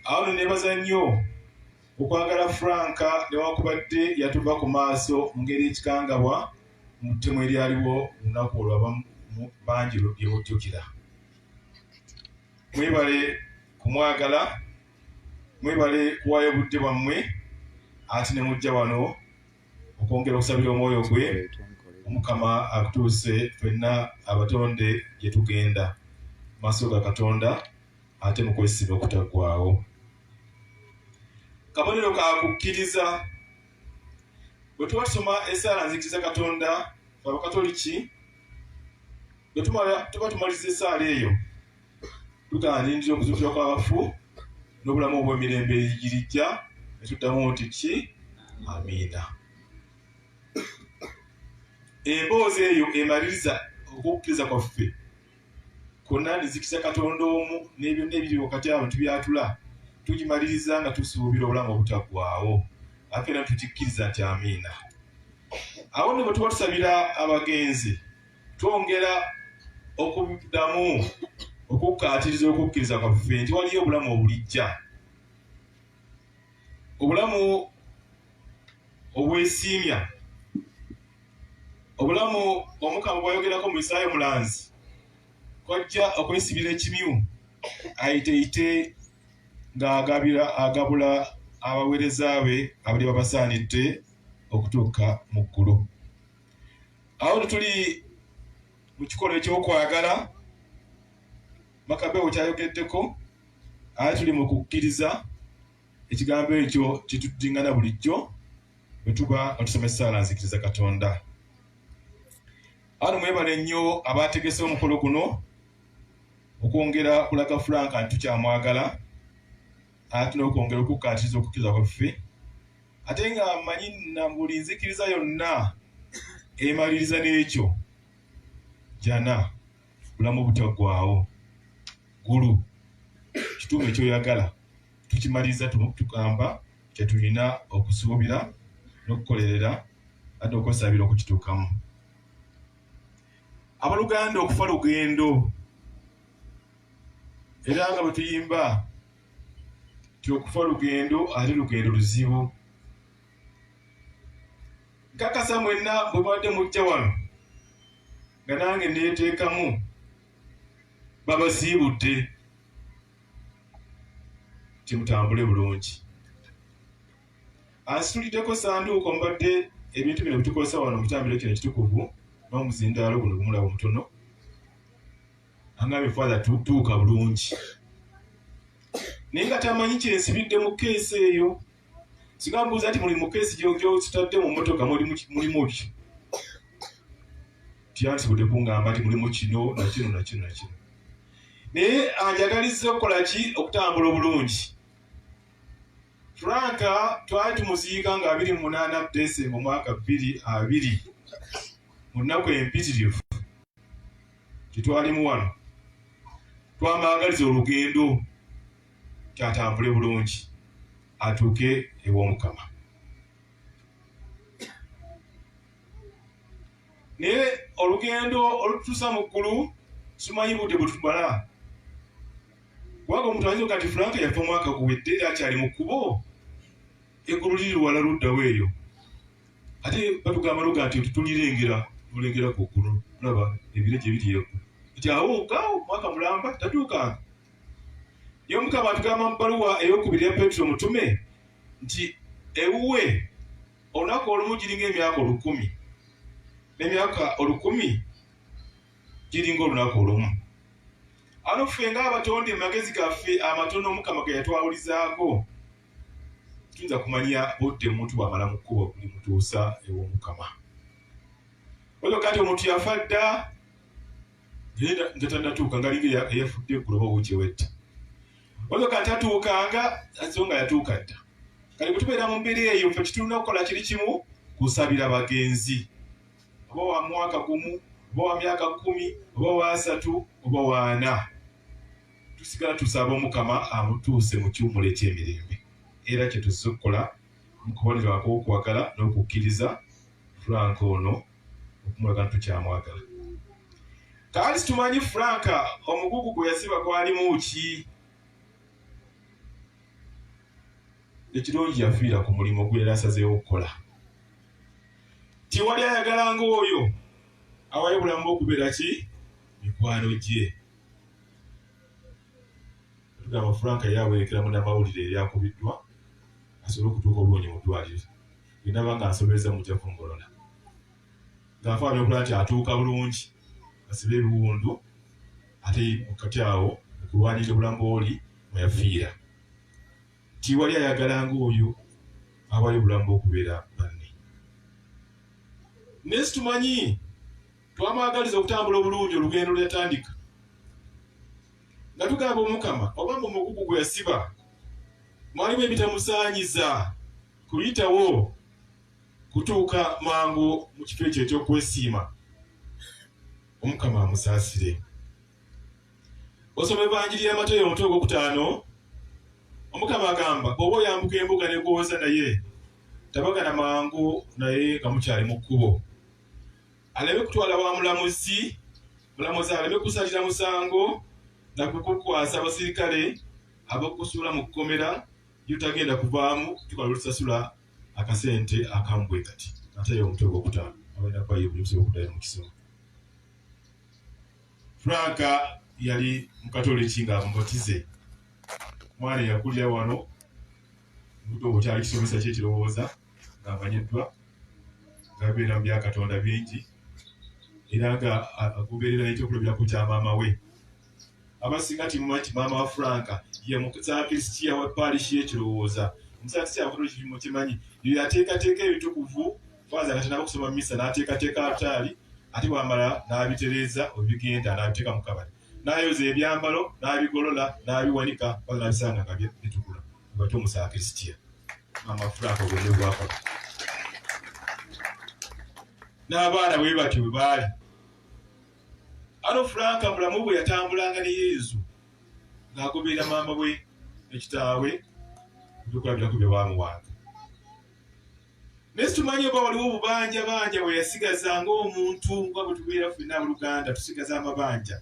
Awo no nebaza nnyo okwagala Frank newakubadde yatuva ku maaso mu ngeri ekikangabwa mu ttemu eryaliwo lunaku olwo abamu bangi lye mujjukira. Mwebale kumwagala, mwebale kuwaayo obudde bwammwe ate ne mujja wano okwongera okusabira omwoyo gwe omukama akutuuse fenna abatonde gye tugenda maaso ga Katonda. ate mu kwesiba okutaggwaawo. Kabonero ka kukkiriza. Bwe tuba tusoma esaala nzikiriza Katonda, fe Abakatoliki, bwe tuba tumaliza esaala eyo, tugaanindira okuzuukira kw'abafu n'obulamu obw'emirembe egirijja, ne tuddamu nti ki amiina. Emboozi eyo emaliriza okukkiriza kwaffe. konna nzikisa katonda omu n'ebyonna ebiri wakati awo tubyatula tugimaliriza nga tusuubira obulamu obutaggwaawo ate era tukikkiriza nti amiina awo nno bwe tuba tusabira abagenzi twongera okuddamu okukkaatiriza okukkiriza kwaffe nti waliyo obulamu obulijja obulamu obwesiimya obulamu omukama bwayogerako mu isaayo mulanzi kwajja okwesibira ekimyu ayiteite ng'agabira agabula abaweereza be abali babasaanidde okutuuka mu ggulu awo tetuli mu kikolo ekyokwagala makabewo kyayogeddeko aye tuli mu kukkiriza Ekigambo ekyo kituddingana bulijjo bwe tuba nga tusoma essaala nzikiriza Katonda. Ano mwebale nnyo abaategese omukolo guno okwongera kulaga Frank nti tukyamwagala ate n'okwongera okukkaatiriza okukkiriza kwaffe ate nga mmanyi na buli nzikiriza yonna emaliriza n'ekyo jana. bulamu butaggwaawo ggulu kituufu ekyoyagala tukimaliza tugamba kyetulina okusuubira n'okukolerera ate okwesabira okukituukamu abaluganda okufa lugendo era nga bwe tuyimba ti okufa lugendo ali lugendo luzibu nkakasa mwenna bwe mubadde mujja wano nga nange neteekamu babasiibudde nti mutambule bulungi asituliddeko sanduuko mbadde ebintu bino bitukozesa wano mutambiro kino ekitukuvu n'omuzindaalo guno gumulaba omutono angambye father tutuuka bulungi naye nga tamanyi kyensibidde mu keesi eyo singa mbuuza nti muli mukeesi gyokitadde mu motoka mulimu ki tyandisobodde kungamba nti mulimu kino nakino nakino nakino naye anjagaliza okukola ki okutambula obulungi franka twali tumuziika nga abiri munaana desemba omwaka bbiri abiri mu nnaku empitirivu tetwalimu wano twamwagaliza olugendo nti atambule bulungi atuuke ew'omukama naye olugendo olututusa mu ggulu simanyi budde bwetumala kubanga omuntu ayinza kati frank yafa omwaka guwedde era akyali mu kkubo eggulu liri wala luddawo eyo ate batugamba luga nti tulirengera tulengera ku ggulu olaba ebire gye biri eggu nti awo gaawo omwaka mulamba tatuukanga Ye Omukama atugamba mu bbaluwa ey'okubiri ya Petro omutume nti ewuwe olunaku olumu giringa emyaka olukumi n'emyaka olukumi giringa olunaku olumu. Ano ffe ng'abatonde mu magezi gaffe amatono Omukama ge yatwawulizaako tuyinza kumanya budde omuntu bw'amala mu kkubo limutuusa ew'Omukama. Oyo kati omuntu yafa dda Yenda njatanatuuka nga linga eyafudde eggulo oba wuuki ewedde. Waliwo kati atuukanga so nga yatuuka dda. Kati bwe tubeera mu mbeera eyo ffe kitulina okukola kiri kimu kusabira bagenzi. Oba wa mwaka gumu, oba wa myaka kkumi, oba wa asatu, oba wa ana. Tusigala tusaba Omukama amutuuse mu kiwumulo eky'emirembe. Era kye tuzze okukola mu kubonerwa kw'okwagala n'okukkiriza Frank ono. okumulaga nti tukyamwagala kaali situmanyi frank omugugu gwe yasiba gwalimu ki ekirungi yafiira ku mulimu gwe yali asazeewo okukola tiwali ayagala ngaoyo awayo bulamu okubeera ki mikwano gye Tugamba Frank yali awerekera munnamawulire eyali akubiddwa asobole okutuuka obulungi mu ddwaaliro. Bye ndaba nga nsobezza mujja kungolola. Nga nfaayo n'okulaba nti atuuka bulungi, asibe ebiwundu ate kati awo okulwanirira obulamu bw'oli mwe yafiira. Tiwali ayagala ng'oyo awaayo obulamu bw'okubeera banne. Naye situmanyi twamwagaliza okutambula obulungi olugendo lweyatandika nga tugamba omukama oba mu mugugu gwe yasiba mwalimu ebitamusaanyiza kuyitawo kutuuka mangu mu kifo ekyo ekyokwesiima omukama amusaasire osoma evanjiri ya matayo omutwe ogwokutaano omukama agamba oba oyambuka embuga negwowoza naye tabagana mangu naye nga mukyali mu kkubo aleme kutwala wa mulamuzi mulamuzi aleme kusalira musango na kukukwasa abasirikale ab'okusuula mu kkomera lyotagenda kuvaamu tukola lutasasula akasente akambwe kati ate yo omutwe gwokutaano abaina kuba ye bulimusobola okuddayo mu kisomo franka yali mukatoliki nga mubatize mwana yakulira wano buto okyali kisomesa kyekirowooza ng'amanyiddwa ng'abeera mu bya Katonda bingi era nga agoberera ekyokulabirako kya maama we abasinga timumanyi ti maama wa franka ye musaakristiya wa paalishi y'ekirowooza omusaakristiya akotola kirimu kimanyi yo yateekateeka ebitukuvu faaza nga tanaaba okusoma misa n'ateekateeka alutaali ate bwamala n'abitereeza obigenda n'abiteeka mu kabali n'ayoza ebyambalo n'abigolola n'abiwanika faaza n'abisanga nga bitukula Batu musakisitia. Mama Franco gwe bwako. N'abaana bwe bati bwe baali. Ano Franco mulamu bwe yatambulanga ne Yesu ng'agoberera maama we ne kitaawe ebyokulabirako bye baamuwanga. Naye situmanye oba waliwo obubanja banja bwe yasigaza ng'omuntu nga bwe tubeera ffenna mu Luganda tusigaza amabanja.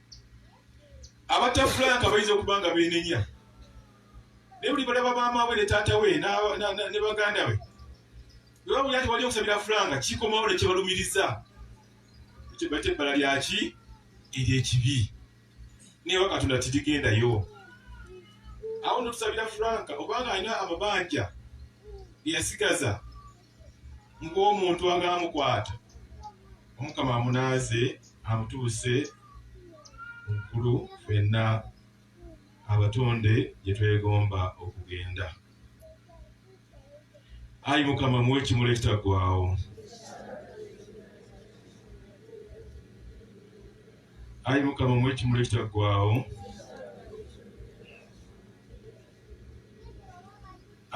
abatta frank bayinza okuba nga benenya naye buli balaba maamawe ne taata we ne baganda be bwebabuli ati wali okusabira frank kikomawo nekyebalumiriza kyebaita ebbala lyaki eryekibi naye wakatonda tirigendayo awo notusabira frank obanga alina amabanja geyasigaza ng'omuntu anga amukwata omukama amunaaze amutuuse mukulu fenna abatonde gye twegomba okugenda ayi mukama muwe ekimuli ekitaggwawo ayi mukama muwe ekimuli ekitaggwawo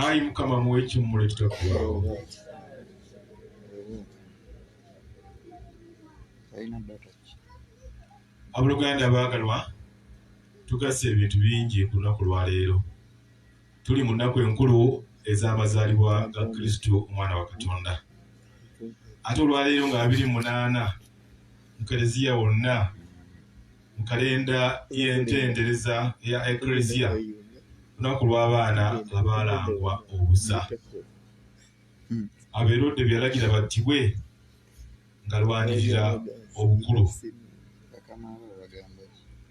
ayi mukama muwe ekimmula ekitaggwaawo abuluganda abaagalwa tugasa ebintu bingi ku lunaku lwaleero tuli mu nnaku enkulu ez'amazaalibwa ga kristo omwana wa katonda ate olwaleero nga abiri munaana mu kereziya wonna mu kalenda y'entendereza ya Eklezia lunaku lw'abaana abaalangwa obusa. Abeerode be yalagira battibwe ng'alwanirira obukulu.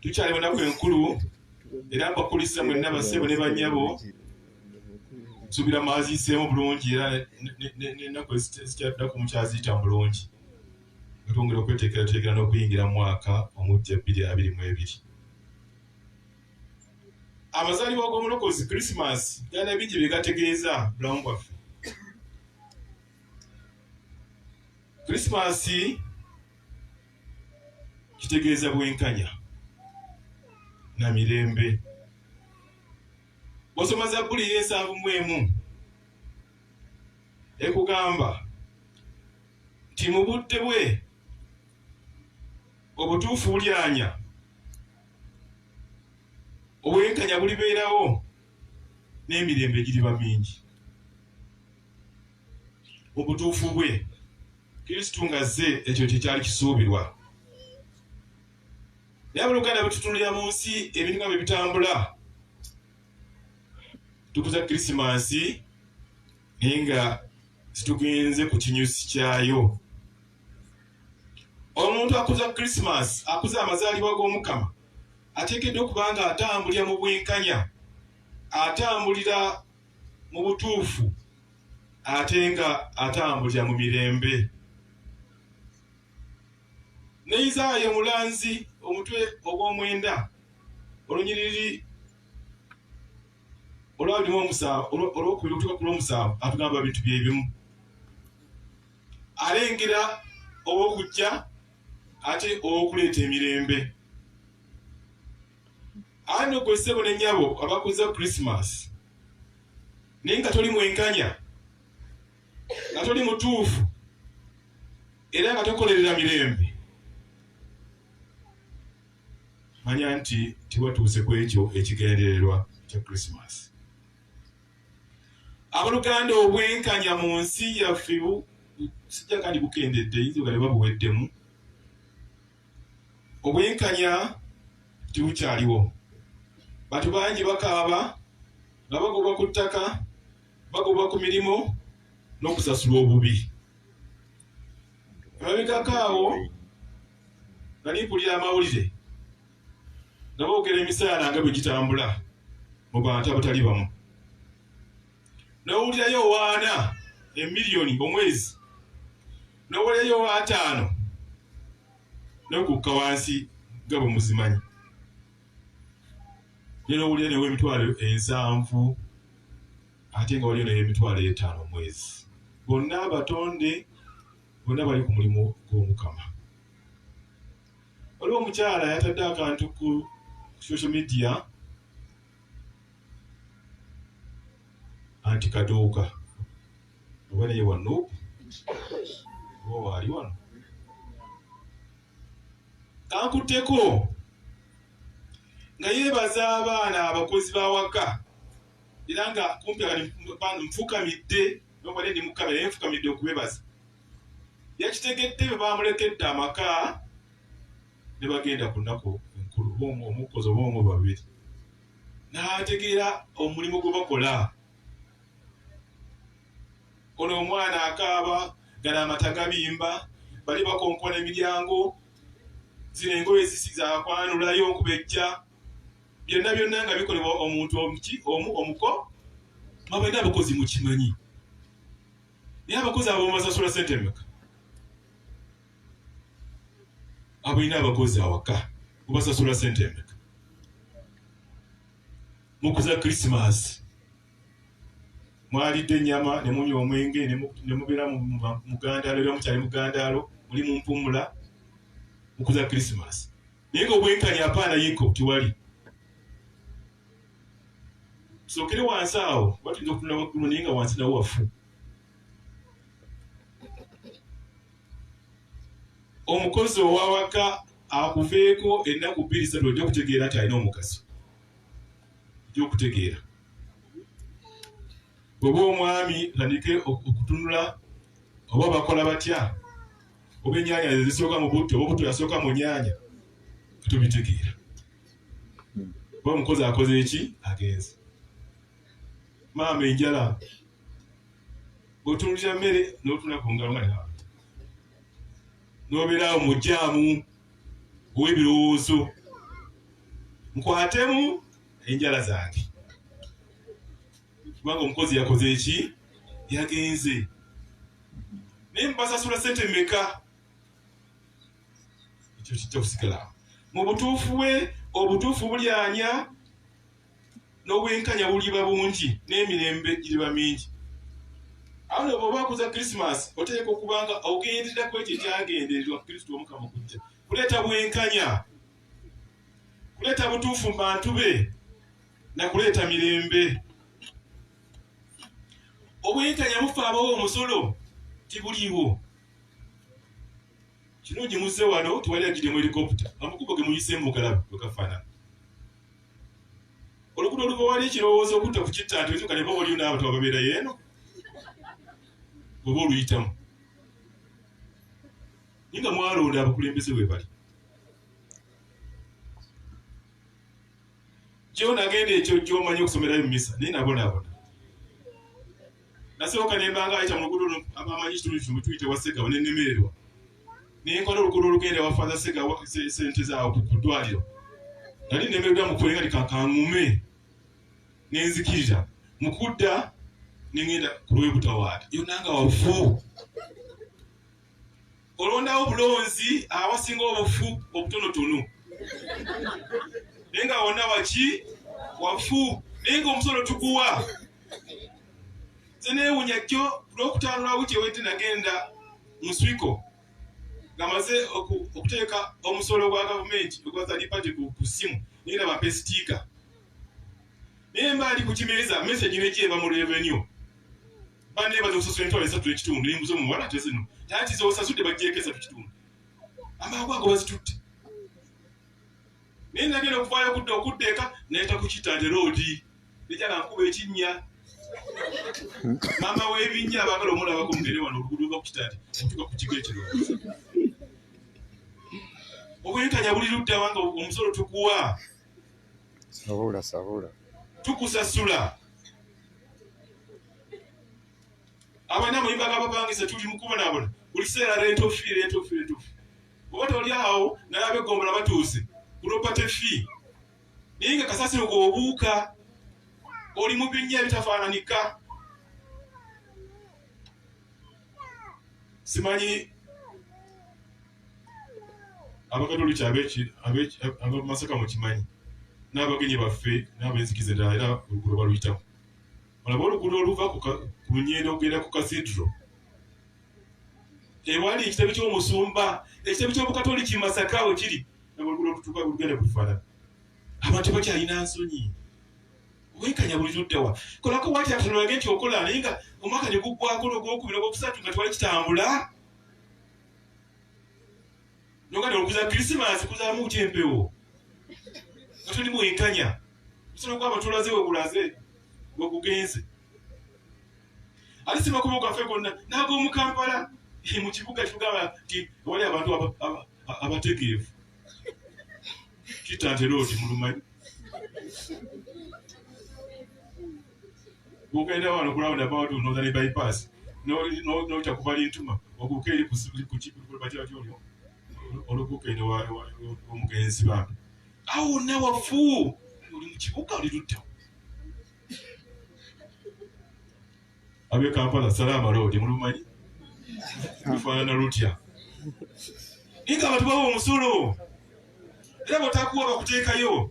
Tukyali mu nnaku enkulu era mbakulisa mwenna bassebo ne bannyabo nsubira mwaziiseemu bulungi era n'ennaku ezikyaddako mukyaziyita mu bulungi. nga twongera okweteekerateekera n'okuyingira mu mwaka omuggya bbiri abiri mu ebiri. Amazaalibwa g'omulokozi Krisimansi galina bingi bye gategeeza bulamu bwaffe. Krisimansi kitegeeza bwenkanya na mirembe. Bw'osoma Zabbuli ey'ensanvu mu emu ekugamba nti mu budde bwe obutuufu bulyanya obwenkanya bulibeerawo n'emirembe giriba mingi mu butuufu bwe kristu nga zze ekyo kyekyali kisuubirwa naye abooluganda bwetutunulira mu nsi ebintu nga bwe bitambula tukuza krisimansi naye nga zitugenze ku kinyusi kyayo omuntu akuza krisimas akuza amazaalibwa g'omukama ateekeddwa okuba nga atambulira mu bwenkanya atambulira mu butuufu ate nga atambulira mu mirembe ne isaaya omulanzi omutwe ogw'omwenda olunyiriri olwabiri olwokubiri okutuka ku lwomusanvu atugamba bintu byebimu alengera owokujja ate owokuleeta emirembe ani ogwe ssebo ne nyabo abakuza christmas naye nga toli mwenkanya nga toli mutuufu era nga tokolerera mirembe manya nti tewatuuse ku ekyo ekigendererwa kya Krisimaasi. Aboluganda, obwenkanya mu nsi yaffe sijja kandi bukendedde, yinza ogale babuweddemu. Obwenkanya tebukyaliwo. Bantu bangi bakaaba nga bagobwa ku ttaka, bagobwa ku mirimu n'okusasulwa obubi. Emabegako awo nali mpulira amawulire nga boogera emisaala nga bwe gitambula mu bantu abatali bamu nowulirayo owaana emiliyoni omwezi nowulirayo owaataano nokukka wansi nga bwe muzimanyi nera owulira newo emitwalo ensanvu ate nga waliyo nayo emitwalo etaano omwezi bonna abatonde Bonna bali ku mulimu gw'Omukama. Waliwo omukyala yatadde akantu ku social media anti kaduuka oba naye wano oba waali wano kankutteko nga yeebaza abaana abakozi b'awaka era nga kumpi nfukamidde nobade ndi mukamera naye nfukamidde okubebaza yakitegedde bwe bamulekedde amaka ne bagenda ku nnaku enkulu bomu omukozi obomu babiri n'ategeera omulimu gwe bakola ono omwana akaaba gala amata gabimba bali bakonkona emiryango zino engoye zisi zakwanulayo okubejja byonna byonna nga bikolebwa omuntu omuki omu omuko mwabaina abakozi mukimanyi naye abakozi abo mumasasula sente emeka abalina abakozi awaka mubasasula sente emeka mukuza krisimasi mwalidde enyama nemunywa omwenge nemubeera mugandaalo era mukyali mugandaalo muli mumpumula mukuza krisimasi naye nga obwenkanya apaana yeko tewali sokere wansi awo batuyinza okutunda waggulu naye nga wansi nawo wafu omukozi owawaka akuveeko ennaku bbiri satu ojja okutegeera nti alina omugaso ojja okutegeera bweba omwami tandike okutunula oba bakola batya oba ennyanya zisooka mu butto oba obutto yasooka mu nyanya tubitegeera oba omukozi akoze eki agenze maama enjala otunulira mmere n'otuna ku ngalo nga n'obeeraawo mu jaamu ow'ebirowoozo nkwatemu enjala zange kubanga omukozi yakoze eki yagenze naye mubasasula sente meka ekyo kijja kusigala mu butuufu bwe obutuufu bulyanya n'obwenkanya buliba bungi n'emirembe giriba mingi awo ne bwoba akuza krisimas oteeka okubanga ogenderera ku ekyo ekyagendererwa kristo omukama okujja kuleeta bwenkanya kuleeta butuufu mu bantu be na kuleeta mirembe obwenkanya bufa abawo omusolo tibuliiwo kirungi muzze wano tewali agidemu helikopta amukubo ge muyise mugalabu wekafaanana olugudo oluva wali ekirowoozo okutta ku kitta nti okyuka ne baba oliyo n'abantu ababeera yeeno bweba oluyitamu naye nga mwalonda abakulembeze bwe bali kyo nagenda ekyo kyomanyi okusomerayo mumisa naye nabonabona nasooka nembanga ayita mulugudo abamanyi ekitundu kimu tuyite wasegawa nenemererwa nenkola olugudo olugenda wafaza segawa sente zawo kudwaliro nali nemererwa mukwenga likakangume nenzikirira mukudda nengenda kulwebutawaata yonanga wafu olondawo bulonzi awasinga obufu obutonotono naye nga wonna waki wafu naye nga omusolo tuguwa zenewunya kyo lwokutanulawo kyewete nagenda muswiko ngamaze okuteeka omusolo gwa gavumenti ogwa third party ku ssimu naye nga bampa esitiika naye mbaali ku kimeeza message nejyeva mu revenue banneebaza okusasula emitwalo esatu ekitundu embuza omuwala ate zino tanti zosasudde bajjeeko esatu kitundu amangu ago bazitutte naye nagenda okuvaayo okudda okudda eka nayita ku kitante roodi nejala nkuba ekinnya maama w'ebinnya abaagala omulabako mugere wano oluguudo lwa ku kitante otuka ku kigo ekiro obwenkanya buli luddawa nga omusolo tukuwa Sabula sabula. Tukusasula. Abana muyimba abapangisa tuli mukubonabona. Buli kiseera rent of fee, rent of fee, rent of fee. Oba toli awo naye abegombola batuuse property fee. Naye nga kasasiro gwobuuka oli mu binnya ebitafaananika. Simanyi abakatoliki abamasaka mukimanyi n'abagenyi baffe n'abenzikiza endala era oluguudo baluyitamu olaba oluguudo oluva ku nyendo okugenda ku kasidro ewali ekitebe ky'omusumba ekitebe ky'obukatoliki masaka we kiri naboluguudo olutuuka olugenda kufaanana abantu bakyalina nsonyi wenkanya buli luddawa kolako wati atonage nti okola naye nga omwaka ne guggwako nogwokubira ogwokusatu nga twali kitambula nogati okuza krisimas kuzamu kutya empewo atuli mwenkanya musolo gwaba tulaze wekulaze wekugenze alisima kuba gwafe gonna nagomukampala mu kibuga kigamba nti wali abantu abategeevu kitantera oti mulumanyi Bw'ogenda wano ku round about Northern bypass n'oyita ku Balintuma oguuka eri ku bakyala kyolyo oluguuka eno omugenzi bambi awo wonna wafu oli mu kibuga oli ludda ab'e Kampala salaama loodi mulumanyi lufaanana lutya naye nga abantu bawa omusolo era bw'otakuwa bakuteekayo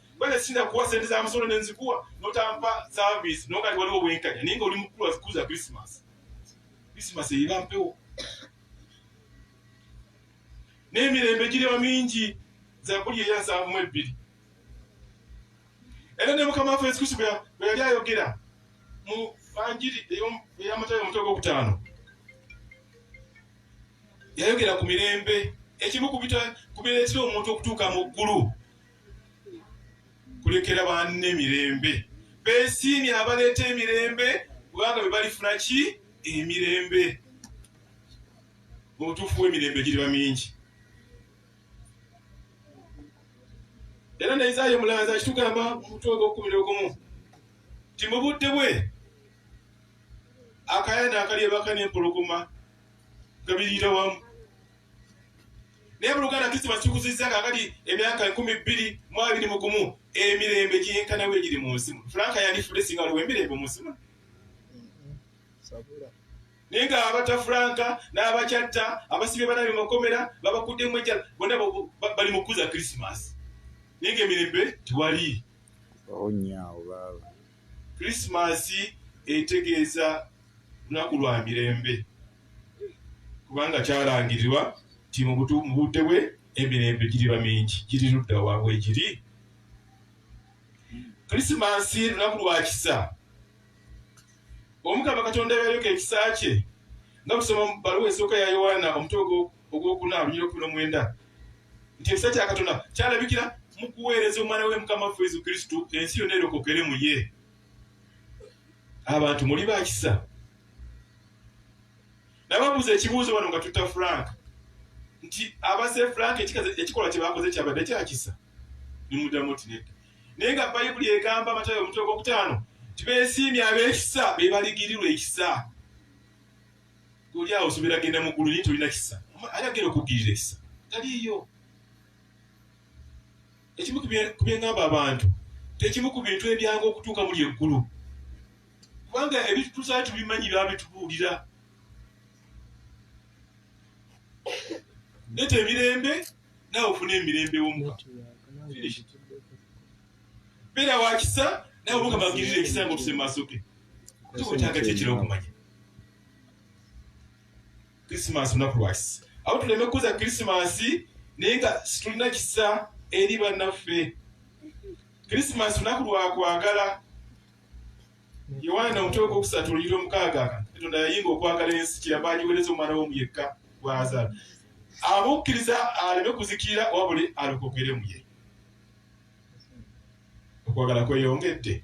Bale sina kuwa sente za musolo ne nzikuwa notampa service no kati waliwo wenkanya ninga oli mukulu azikuza Christmas. Christmas eyiba mpewo. Ne mirembe giri wa mingi za kuli eya za mu ebbiri. Era ne mukama afa esikusi bya yali ayogera mu banjiri eyo ya matayo mutego okutano. Yayogera ku mirembe ekimu kubita kubira ekiro omuntu okutuuka mu ggulu. kulekera banne mirembe besiimye abaleeta emirembe kubanga be balifuna ki emirembe mubutuufu w'emirembe giriba mingi era ne isaayo mulanzi akitugamba mumutwe ogwokumira ogumu nti mu budde bwe akayana akali ebaka n'empologoma gabiriira wamu naye mu luganda tusiba kikuzizza kakati emyaka enkumi bbiri mu abiri mu gumu emirembe gyenkanawo egiri mu nsi muno franka yandifudde singa waliwo emirembe mu nsi muno naye nga abata franka n'abakyatta abasibye banabi makomera babakuddemu ejjala bonna bali mu kukuza krisimasi naye nga emirembe tewali onyawo oh, baaba Kulisimaasi etegeeza lunaku lwa mirembe kubanga kyalangirirwa nti mu budde bwe emirembe giriba mingi giri ludda wa wegiri kulisimansi lunaku lwa kisa omukama katonda yayoleka ekisa kye nga tusoma mu baluwa esooka ya yowaana omutwe ogwokuna lunyira okumi nomwenda nti ekisa kya katonda kyalabikira mu kuweereza omwana we mukama waffe yesu kristu ensi yonna erokokere mu ye abantu muli bakisa nababuuza ekibuuzo bano nga tutta frank nti abase frank ekikolwa kyebakoze kyabadde kyakisa nimuddamu ti nedda naye nga bayibuli egamba amatayo omutwe gwokutaano tibesiimye abekisa bebaligirirwa ekisa oli awo osobola agenda mu ggulu naye tolina kisa ali agenda okukugirira ekisa taliiyo ekimu ku byengamba abantu tekimu ku bintu ebyanga okutuuka muli eggulu kubanga ebintu tuzali tubimanyi babitubuulira neta emirembe nawe ofuna emirembe womuka beera wakisa nawe mukama agirira ekisa nga otuse mu maaso ge otaga kyekira okumanya krisimansi lunaku lwakisa awo tuleme kukuza krisimansi naye nga situlina kisa eri bannaffe krisimansi lunaku lwakwagala yowaana omutwe ogwokusatu oluyira omukaaga katonda yayinga okwagala ensi kiramba agiwereza omwana womu yekka gwazala abukkiriza aleme kuzikirira wabuli alokokeremu ye okwagala kweyongedde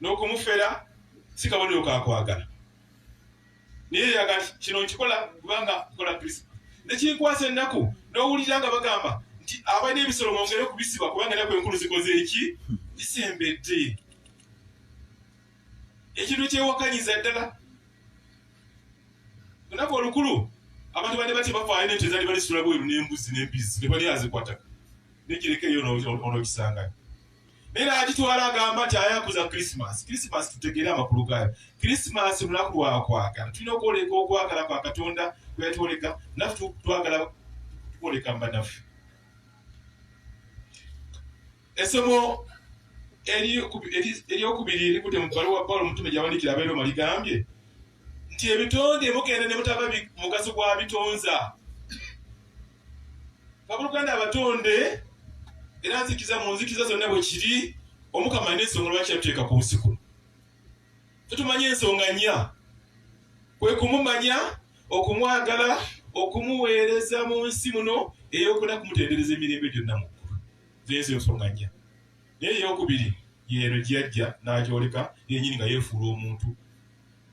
n'okumufera si kabonero ka kwagala naye yaga kino nkikola kubanga nkola kristo nekinkwasa ennaku n'owulira nga bagamba nti abalina ebisolo mwongere okubisiba kubanga enaku enkulu zikoze eki zisembedde ekintu kyewakanyiza ddala olunaku olukulu abantu bade batya bafaayo nente ezali balisula bweru n'embuzi n'embizi tebali azikwataka nekireka eyo onokisangayo era agitwala agamba nti ayakuza krisimas krisimas tutegeere amakulu gayo krisimas lunaku lwakwagala tulina okwoleka okwagala kwa katonda kweyatwoleka nafe twagala kwoleka mbanaffe esomo eryokubiri erikude mu bbaluwa pawulo omutume gyawandikira abeeroma ligambye nti ebitonde mugenda ne mutaba mugaso gwa bitonza bakuluganda abatonde era nzikiza mu nzikiza zonna bwe kiri omukama alina ensonga lwaki yatuteeka ku nsi kuno tetumanyi ensonga nnya kwe kumumanya okumwagala okumuweereza mu nsi muno eyokuna kumutendereza emirembe gyonna mu ggulu zeezo ensonga nnya naye eyokubiri yeero gyeyajja n'agyoleka yenyini nga yeefuula omuntu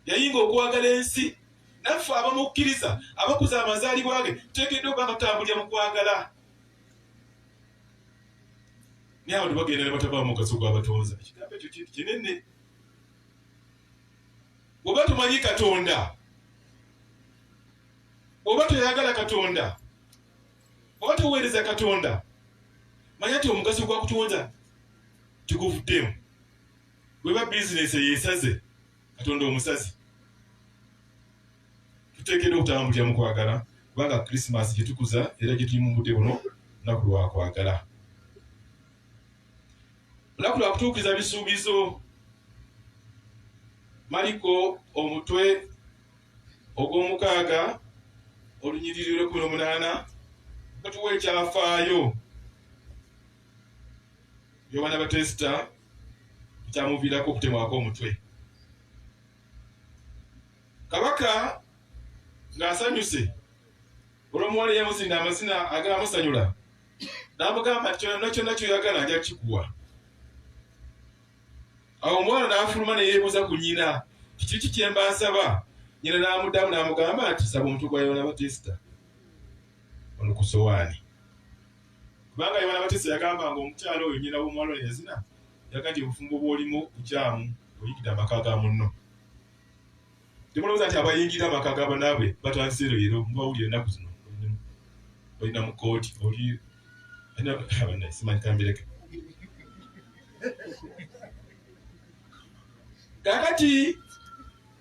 yayinga okwagala ensi naffe abamukkiriza abakuza amazaalibwa ge tuteekeddwa okuba batambulira mu kwagala naye abantu bagenda ne bataba mugaso gw'abatonza ekigambo ekyo kintu kinene oba tumanyi katonda oba toyagala katonda oba toweereza katonda manya ti omugaso gwa kutonda tiguvuddemu Bweba bizinesi eyesaze Katonda omusazi, tuteekeddwa okutambulira mu kwagala kubanga Krisimasi gye tukuza era gye tuli mu budde buno lunaku lwa kwagala, lunaku lwa kutuukiriza bisuubizo. Maliko omutwe ogw'omukaaga olunyiriri lw'ekkumi n'omunaana batuwa ekyafaayo by'abaana batesita ekyamuviirako okutemwako omutwe kabaka ng'asanyuse olwomuwala eyamuzinda amazina agaamusanyula n'amugamba nti kyonna kyonna kyoyagala nja kikuwa awo omwana n'afuluma ne yeebuuza ku nyina kiki ki kyemba nsaba nyina n'amuddamu n'amugamba nti saba omutwe gwa yoona batisita ono ku sowaani Kubanga Yowaana Abatesa yagamba nga omukyala oyo nnyina w'omuwala oyo eyazina yaga nti obufumbo bw'olimu bukyamu oyingidde amaka ga munno. Temulowooza nti abayingira amaka ga banaabwe batandise leero, mubawulira ennaku zino olina mu kkooti oli simanyikambereke kakati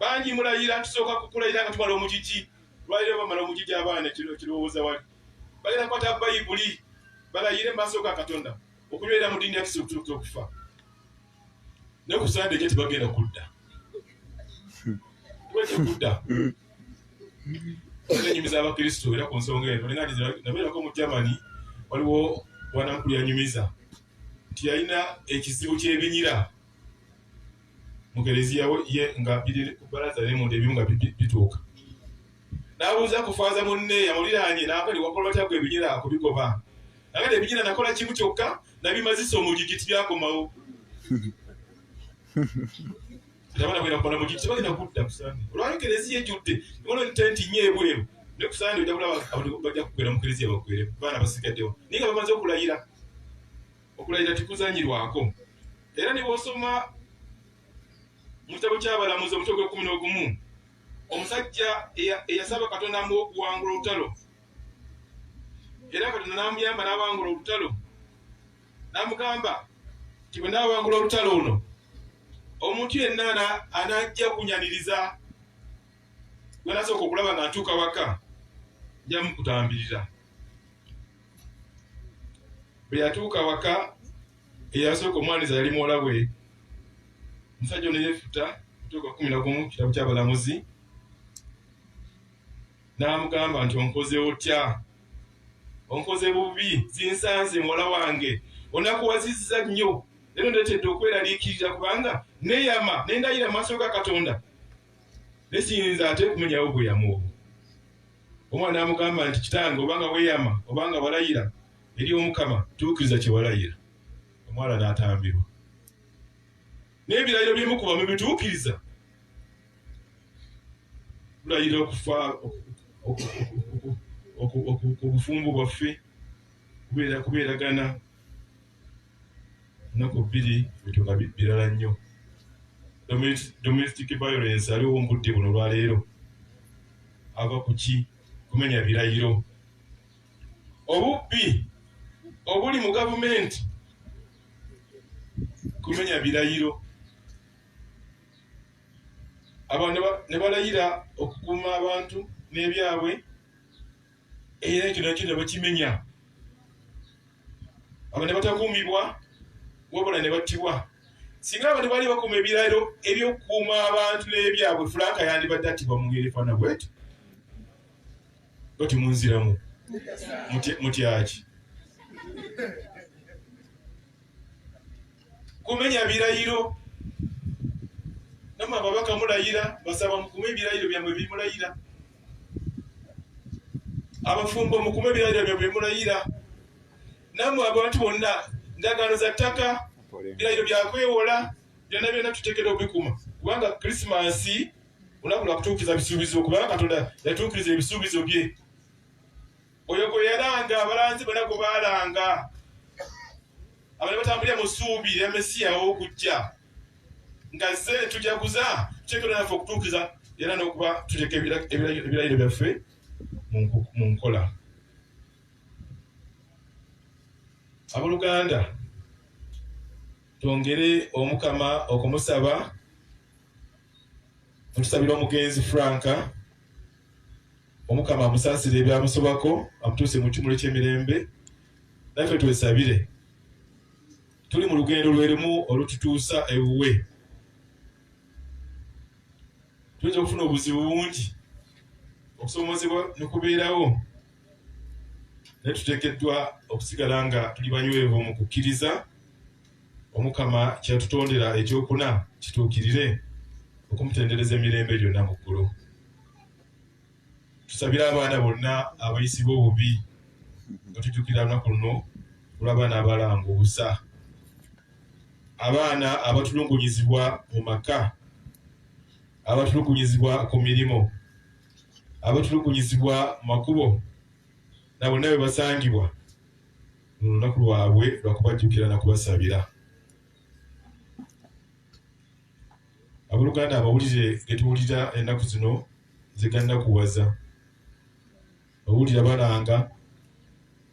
bangi mulayira tusooka kukulayira nga tumala omugigi lwaliro bamala omugigi abaana ekirowooza wali bagenda kukwata bayibuli balayire maaso ga katonda okubeera mu ddiini yakisa okutuuka okufa ne ku sande ekyo tebagenda kudda kudda enyumiza abakristo era ku nsonga eno nabeerako mu germany waliwo bwanankulu yanyumiza nti yalina ekizibu kyebinyira mu kereziya ye nga biri ku bbalaza naye munda ebimu nga bituuka n'abuuza ku faaza munne yamuliraanye n'akali wakola batya gwe ebinyira kubigoba nagala ebinyira nakola kimu kyokka nabimazisa omugigi tibyakomawo tabana bwera kukola mugigi tebagenda kudda kusande olwali kereziya ejjudde ibona ntenti nyo ebweru ne kusande ojja kulaba abantu bajja kugwera mu kereziya bagwere baana basigaddewo naye nga bamaze okulayira Okulayira tekuzanyirwako era ne bw'osoma mu kitabo ky'Abalamuzi omutwe gw'ekkumi n'ogumu omusajja eyasaba Katonda amuwa okuwangula olutalo era Katonda n'amuyamba n'awangula olutalo n'amugamba nti bwe naawangula olutalo luno omuntu yenna anajja kunyaniriza gwe nasooka okulaba nga ntuuka waka nja mukutambirira bwe yatuuka waka eyasooka omwaniza yali muwala we omusajja ono yeefuta tuuka kumi nagumu kitabo kyabalamuzi n'amugamba nti onkoze otya onkoze bubi zinsanze muwala wange onakuwazizza nnyo era ndeetedde okweraliikirira kubanga neyama nendayira mu maaso ga katonda nesiyinza ate kumenyawo bweyamu obwo Omwana amugamba nti, Kitange, obanga weeyama, obanga walayira eri Omukama, tuukiriza kye walayira. Omwana n'atambirwa. N'ebirayiro byemukuba mubituukiriza? Tulayira okufa ku bufumbo bwaffe, kubeeragana. ennaku bbiri bintu nga birala nnyo domestic violence aliwo mbudde buno lwaleero ava kuki kumenya birayiro obubbi obuli mu gavumenti kumenya birayiro abantu ne balayira okukuuma abantu n'ebyabwe era ekyo nakyo ne bakimenya abo ne batakuumibwa wabula ne battibwa singa abantu baali bakuuma ebirayiro ebyokukuuma abantu n'ebyabwe fulaaka yandibadde attibwa mu ngeri efaana bweti bati munziramu mutyaki kumenya birayiro namwe ababaka mulayira basaba mukume ebirayiro byamwe bimulayira abafumbo mukume ebirayiro byabwe byemulayira namwe abantu bonna ndagaano za ttaka birayiro byakwewola byonna byonna tuteekera okubikuma kubanga krisimansi olunaku lwakutuukiriza bisuubizo kubanga katonda yatuukiriza ebisuubizo bye oyo gwe yalanga abalanzi bona gwe baalanga abali batambulira mu ssuubi lya mesiya ow'okujja nga ze tujaguza tuteekera naffe okutuukiza era n'okuba tuteeka ebirayiro byaffe mu nkola aboluganda twongere omukama okumusaba otusabira omugenzi franka Omukama amusaasire ebyamusobako, amutuuse mu kimuli ky'emirembe. Naffe twesabire. Tuli mu lugendo lwe lumu olututuusa ewuwe. Tuyinza okufuna obuzibu bungi, okusoomozebwa ne kubeerawo, naye tuteekeddwa okusigala nga tuli banywevu mu kukkiriza Omukama kye yatutondera ekyokuna kituukirire, okumutendereza emirembe gyonna mu ggulu. tusabire abaana bonna abayisibwa obubi nga tujukira lunaku luno olw'abaana abalanga obusa abaana abatulugunyizibwa mu maka abatulugunyizibwa ku mirimu abatulugunyizibwa mu makubo na bonna bwe basangibwa mu lunaku lwabwe lwakubajjukira na kubasabira Abooluganda, amawulire ge tuwulira ennaku zino ze gannakuwaza. Owulira balanga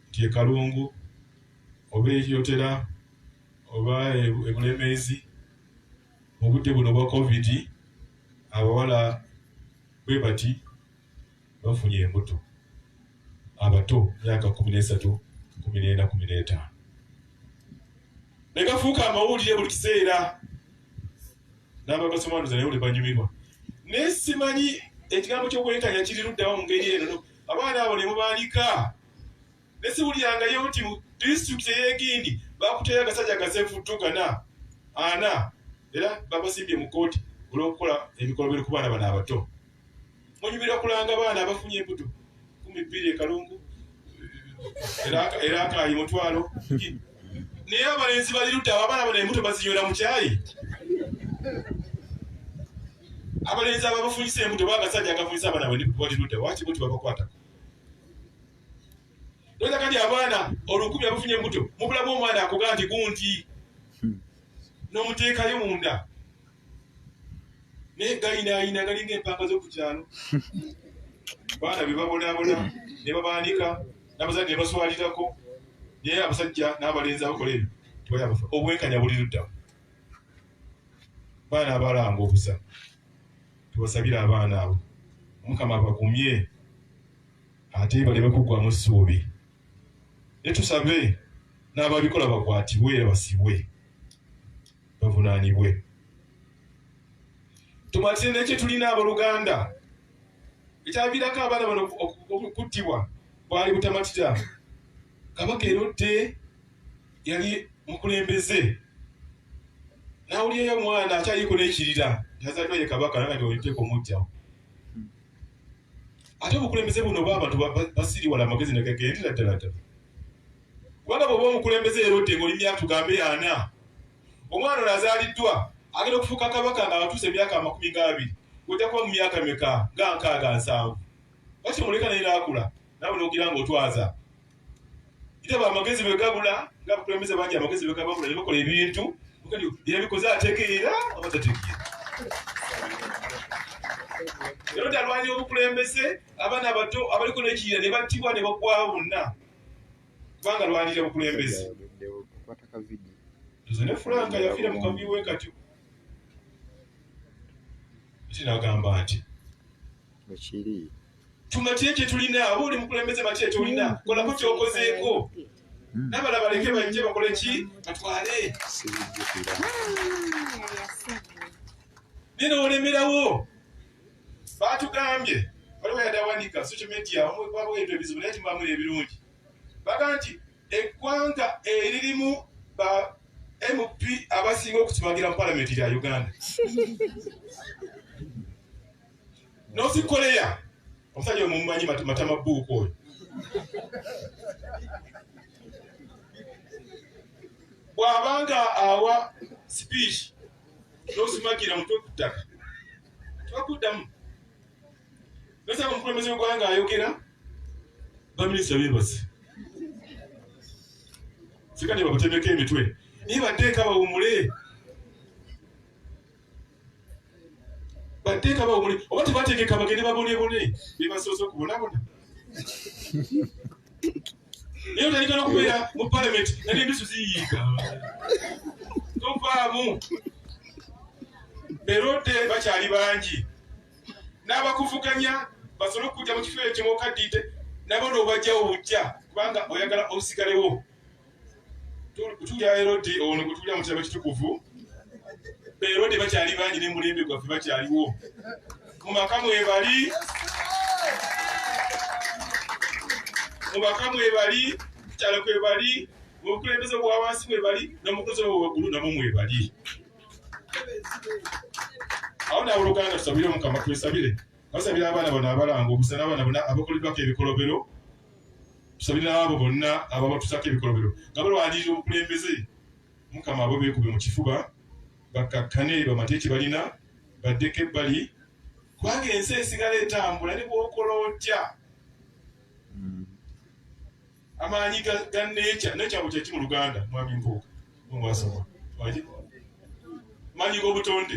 nti e Kalungu oba e Kyotera oba e, e Bulemeezi mu budde buno obwa Kovidi abawala bwe bati bafunye embuto abato myaka kumi n'esatu kumi n'ena kumi n'etaano ne gafuuka amawulire buli kiseera n'abagasomanuza naye buli banyumirwa naye simanyi ekigambo ky'okwekanya kiri luddawa mu ngeri eno abaana abo ne mubaalika ne siwulirangayo nti mu disitulikiti ey'egindi bakuteyo agasajja agasevuttu gana ana era bagasimbye mu kkooti olw'okukola ebikolobero ku baana bano abato munyumira okulanga baana abafunye embuto kumi bbiri ekalungu era akaayi mutwalo naye abalenzi bali ludda abo abaana bano embuto bazinywera mu kyayi abalenzi ababafunyisa embuto bagasajja agafunyisa abaana bwe bali ludda wakibuti babakwatako Ndoza kati abaana olukumi abafunye embuto mubulamu omwana akoga nti gunti hmm. nomuteekayo munda naye gayinaayina galinga empanga z'oku kyalo baana be babonabona ne babaanika n'abazadde ne baswalirako naye abasajja n'abalenzi abakola ebyo tebayabafa obwenkanya buli ludda baana abalanga obusa tubasabire abaana abo omukama abagumye ate baleme kuggwamu ssuubi ne tusabe n'ababikola bakwatibwe era basibwe bavunaanibwe tumatire nekye tulina aboluganda ekyaviirako abaana bano okuttibwa bwali butamatira kabaka erodde yali mukulembeze nawulyeyo omwana akyaliko nekirira nazaliwa ye kabaka nanga nti oliteeka omujjawo ate obukulembeze buno oba abantu basiriwala amagezi negagendera ddala ddala kubanga bwoba omukulembeze era odde ngaoli myaka tugambe ana omwana ono azaaliddwa agenda okufuuka kabaka nga abatuusa emyaka amakumi gaabiri ojja kuba mu myaka meka nga nkaaga nsanvu bakimuleka naye naakula nawe nogira nga otwaza Ite amagezi bwe gabula nga bukulembeze bangi amagezi bwe gabula ne bakola ebintu kati yabikoze ategeera oba tategeera. Lero talwanya obukulembeze abaana abato abaliko n'ekiyira ne battibwa ne bagwawo bonna kubanga lwanira bukulembeze. Nze ne Frank yafiira mu kavuyo we katyo. Kinagamba nti. Bwe kiri. tumatye kyetulina oba oli mukulembeze matye kyolina kolako kyokozeeko hmm. nabala baleke bajje bakole ki batwale naye nolemerawo batugambye waliwo yadde awandika social media omwebwabaweetu ebizibu naye timubamuli ebirungi baga nti eggwanga eririmu ba mp abasinga okusimagira mu palamenti lya uganda North Korea omusajja omumanyi matama buuku oyo bw'aba nga awa sipiiki n'osimagira mutwe ku ttaka tebakuddamu nasaba omukulembeze w'eggwanga ayogera baminisita beebase sikati babatemeko emitwe naye bateeka bawumule bateeka bawumule oba tebateekeka bagende babonebone bebasoose okubonabona naye otandika nokubeera mu palamenti nali endusu ziyiika tovaamu berode bakyali bangi n'abakuvuganya basobole okukujja mu kifo ekyo mukaddiite nabo noobajjawo bujja kubanga oyagala osigalewo tulya erodi ono gwe tulya mu kyama kitukuvu erodi bakyali bangi ne mulembe gwaffe bakyaliwo mu maka mwebali mu maka mwebali kukyalo kwebali mu bukulembeze bwa wansi mwebali nomukulembeze bwa waggulu namwe mwebali awo naabo luganda tusabire omukama twesabire basabira abaana bano abalanga obusana abaana bona abakoleddwako ebikolobero tusabira abo bonna ababatusako ebikolobero nga balwanirira obukulembeze mukama abo beekube mu kifuba bakkakkane bamate kye balina baddeko ebbali kubanga ensi esigala etambula ne bwokola otya hmm. amaanyi ga nekya nekyabo kyeki mu luganda mwami mpuuka mwasoma maanyi g'obutonde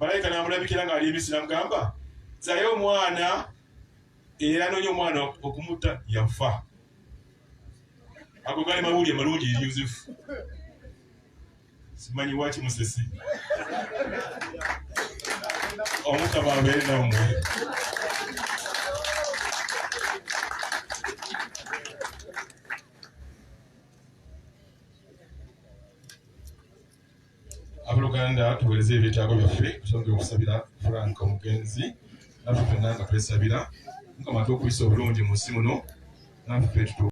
malayika n'amulabikira ng'ali emisiri amugamba zayo omwana era noonya omwana okumutta yafa ago gali mawulire malungi eri yosefu simanyi waki musesi omukama abeere nammwe Abooluganda tuweereze ebyetaago byaffe tusonge okusabira Frank omugenzi naffe fenna nga twesabira Mukama atuwe okuyisa obulungi mu nsi muno naffe tutu